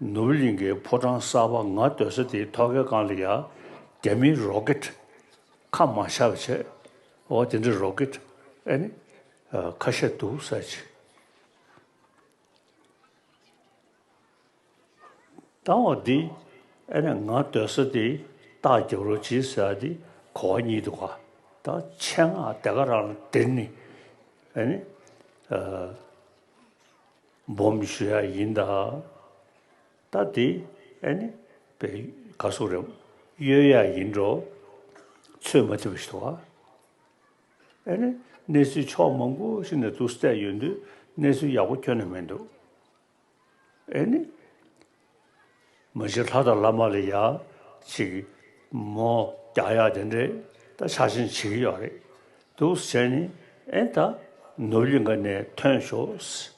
ནུབ་གླིང་གི་ཕོ་བྲང་གསར་པ་ང་སྡོད་ས་དེའི་ཐོག་ཁའི་སྒང་ལ་ཡང་རྒྱ་མིའི་རོ་ཀེད་ཁ་མང་ཤར་བ་བྱས། འོ་དེ་འདྲའི་རོ་ཀེད་ཨེ་ནི། ཁ་ཤས་འདུག་ས་ཅི། ལྟ་བ་འདི་ཨེ་ནི་ང་སྡོད་ས་དེའི་སྟག་རྒྱབ་རོ་བྱིས་ཟེར་བ་འདི་གོ་བ་གཉིས་འདུག་ད་ཆེད་མངགས་དེ་ག་རང་ལ་དེར་ནི་ཨེ་ནི། སྦོམ་ཞུ་ཡག་ཡིན་ད། ད་དེ་ཨེ་ནི་བེ་ག་སུ་རེམ་གཡོལ་ཡག་ཡིན་འགྲོ། ཚོད་མ་ཐིག་པ་ཞིག་ཏུ་བ། ཨེ་ནི་གནས་ཚུལ་ཕྱོགས་མང་པོ་ཞིག་ནས་དུག་བསྲེགས་ཡོད་འདུག་གནས་ཚུལ་ཡག་པོ་ཁྱོན་ནས་མི་འདུག་ཨེ་ནི། མོ་ཅིག་ལྷ་དང་བླ་མ་ལ་ཡག། ཅིག། མོ། རྒྱག་ཡག་དེ་འདྲས་ད་ཆགས་ཞེན་བྱེད་ཀྱི་ཡོད་རེད་འདུག་བྱས་ནས་ཨེ་ད་ནུབ་གླིང་ག་ནས་ཐོན་ཞོགས།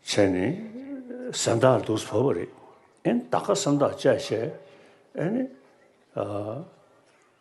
བྱས་ནས་སེམས་ཐག་རེད་འདུག་བོད་པ་རེད་ཨེ་ད་ག་སེམས་ཐག་བཅད་བྱས་ཨེ།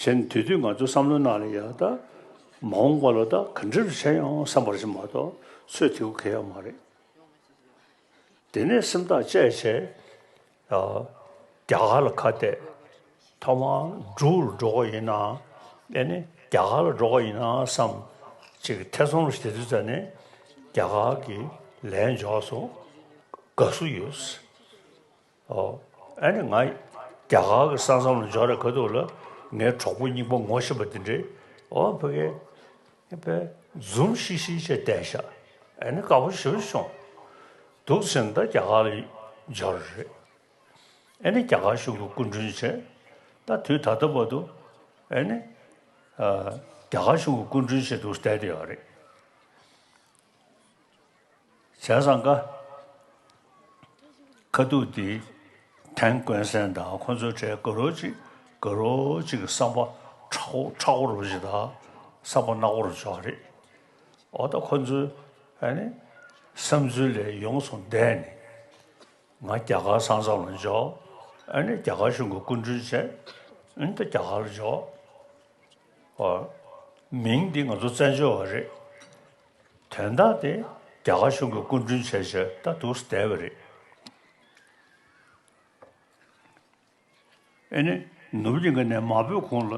གཞན་དེ་དུས་ང་ཚོ་བསམ་བློ་གནང་ལ་ཡང་ད་མ་འོངས་པ་ལ་ད་ག་འདྲེ་རུ་བྱེད་ཡོང་བསམ་པར་བྱེད་མ་གཏོགས་ཚོད་ཐིག་གོ་གལ་ཡང་མ་རེད། དེ་ནས་སེམས་ཐག་བཅད་བྱས། རྒྱ་གར་ལ་ཁ་གཏད། ཐོག་མར་འབྲུག་རུ་འགྲོ་ག་ཡིན་ནམ། དཔེ་ནི་རྒྱ་གར་ལ་འགྲོ་ག་ཡིན་ནམ་བསམ། ཅིག་ཐེ་ཚོམ་རུ་བྱེད་དུས་ད་ནི་རྒྱ་གར་གྱི་ལས་འཇོག་སོང། དགའ་བསུ་ཡོད། ཨཱ། ང་རྒྱ་གར་གྱི་ས་མཚམས་ལ་འབྱོར་རེ་ག་འདུག་ལ། ངའི་གྲོགས་པོ་སྙིང་པོ་ངོ་ཤེས་པ་འདི་འདྲས། ཨོ་ཕ་གི། པས། འཛུམ་ཤིག་ཤིག་བྱས་བསྡད་བཞག། ཨཱ་ནི་དཀར་པོ་ཞིག་བྱུང། འདུག་ཚེ་འདི་རྒྱ་གར་ལ་འབྱོར་རེ་རེད། ཨཱ་ནི་རྒྱ་གར་གཞུང་གི་སྐུ་མགྲོན་བྱས། ད་དུས་ད་ལྟ་བར་དུ། ཨཱ་ནི། རྒྱ་གར་གཞུང་གི་སྐུ་མགྲོན་བྱས་འདུག་བསྡད་དེ་ཡོད་རེད། ཟས་བཟང་ཀ་ཁ་ཐུག་འདི་དེང་དཀོན་གསན་དང་ཁོ་ཚོའི་གྲས་དགའ་རོགས་གཅིག་དགའ་རོགས་གཅིག་གི་བསམ་པ་ཁྲག་ཁོ་ཁྲག་ཁོ་རུ་བཞི་དང་བསམ་པ་རྣག་པོ་རུ་བྱོ་བ་རེད་འོ་ད་ཁོ་ཚོའི་ཨ་ནི་བསམ་ཚུལ་ལས་ཡོངས་སུ་འདས་ནས་ང་རྒྱ་གར་ས་མཚམས་ལ་འཇོག་ཨ་ནི་རྒྱ་གར་གཞུང་གི་སྐུ་མགྲོན་བྱས་འོན་ཏེ་རྒྱ་གར་ལ་འཇོག་ཨོ། མིང་འདི་ང་ཚོ་བཙན་བྱོལ་བ་རེད། དོན་དག་དེ་རྒྱ་གར་གཞུང་གི་སྐུ་མགྲོན་བྱས་བྱས་ད་འདུག་བསྡད་པ་རེད། ཨེ་ནི་ནུབ་གླིང་གི་ནས་མ་བོས་གོང་ལ་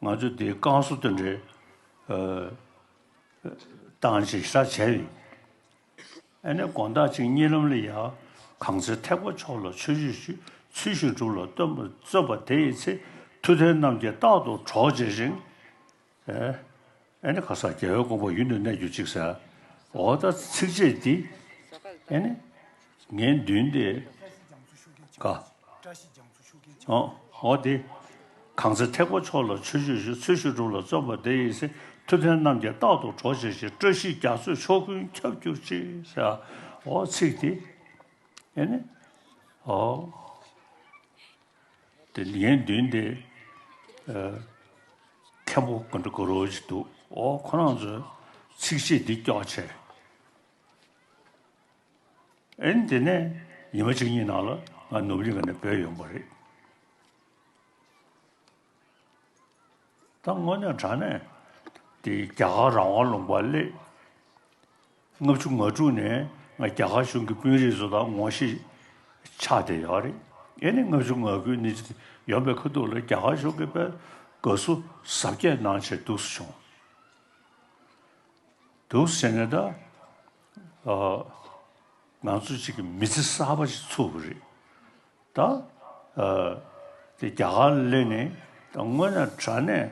ང་ཚོས་འདིའི་བསྐང་གསོ་དེ་འདྲའི་སྟངས་ཅིག་ས་བྱས་ཡོད། ཨེ་ནས་དགོངས་དག་ཅིང་གཉིས་ལམ་ལས་ཡང། གང་ཚེ་ཐེག་པ་མཆོག་ལ་ཆོས་སྤྱོད་ཅིག། ཚུལ་བཞིན་སྒྲུབ་ལ་སྟོན་པར་བརྩོན་པ་དེ་ཡི་ཚེ། མཐུ་ལྡན་རྣམས་ཀྱིས་རྟག་ཏུ་གྲོགས་བྱེད་ཅིང། ཨེ་ནས་གང་ཟག་རྒྱལ་བའི་དགོངས་པ་ཡུན་དུ་གནས་གྱུར་ཅིག། ཟའོ། ད་ཚིགས་བཅད་འདི། ཨེ་ནས། ངས་མདུན་དེ། དགའ། བཀྲ་ཤིས་རྒྱ་མཚོ་ཤུགས་ལྡན་འཆང་ཐུབ། འོ་འོ་དེ། གང་ཚེ་ཐེག་པ་མཆོག་ལ་ཆོས་ཆོས་ཞུ་ཚུལ་ཞུ་གྲུབ་ལ་བརྩོན་པ་དེ་ཡི་སྲས་ཐུབ་བསྟན་རྣམས་ཀྱི་རྟག་ཏུ་གྲོགས་བྱེད་ཅིག་བཀྲ་ཤིས་རྒྱ་མཚོས་ཕྱོགས་ཀུན་ཁྱབ་གྱུར་ཅིག་ཧྲཱི། འོ་ཚིག་དེ། ཨེ་ནི། འོ། དེ་ལ་ཡན་བདུན་ཏེ། མཁན་པོ་དགོན་འདྲ་གུ་རུ་ཅིག་འདུག་འོ་ཁོ་རང་ཚོས་ཚིགས་བཅད་འདི་ཀྱོག་ཆེ། ཨེན། དེ་ནས་ཉི་མ་གཅིག་གཉིས་ནང་ལ་ང་ནུབ་གླིང་ག་ནས་བོད་ཡོང་པ་རེད། ད་དངོས་གནས་དྲ་གནས་དེ་རྒྱ་གར་རང་དབང་ལུང་པར་སླེབས། ལྔ་བཅུ་ང་དྲུག་ནས་ང་རྒྱ་གར་གཞུང་གི་དཔོན་རིགས་སུ་དང་ངོ་ཤེས་ཆགས་བསྡད་ཡོད་རེད། ཨེ་ནི་ལྔ་བཅུ་ང་དགུ་ནི་ཡོང་པའི་ཁ་ཐུག་ལ་རྒྱ་གར་གཞུང་གི་པའི་དགའ་བསུ་ཟབ་རྒྱས་གནང་ཕྱིར་འདུག་སུ་བྱུང། འདུག་སུ་བྱེད་ནས་ད། ང་ཚོ་གཅིག་གི་མི་ཚེ་གསར་པ་ཞིག་ཚུགས་པ་རེད། ད། རྒྱ་གར་གླེང་ནས་ད་དངོས་གནས་དྲ་གནས།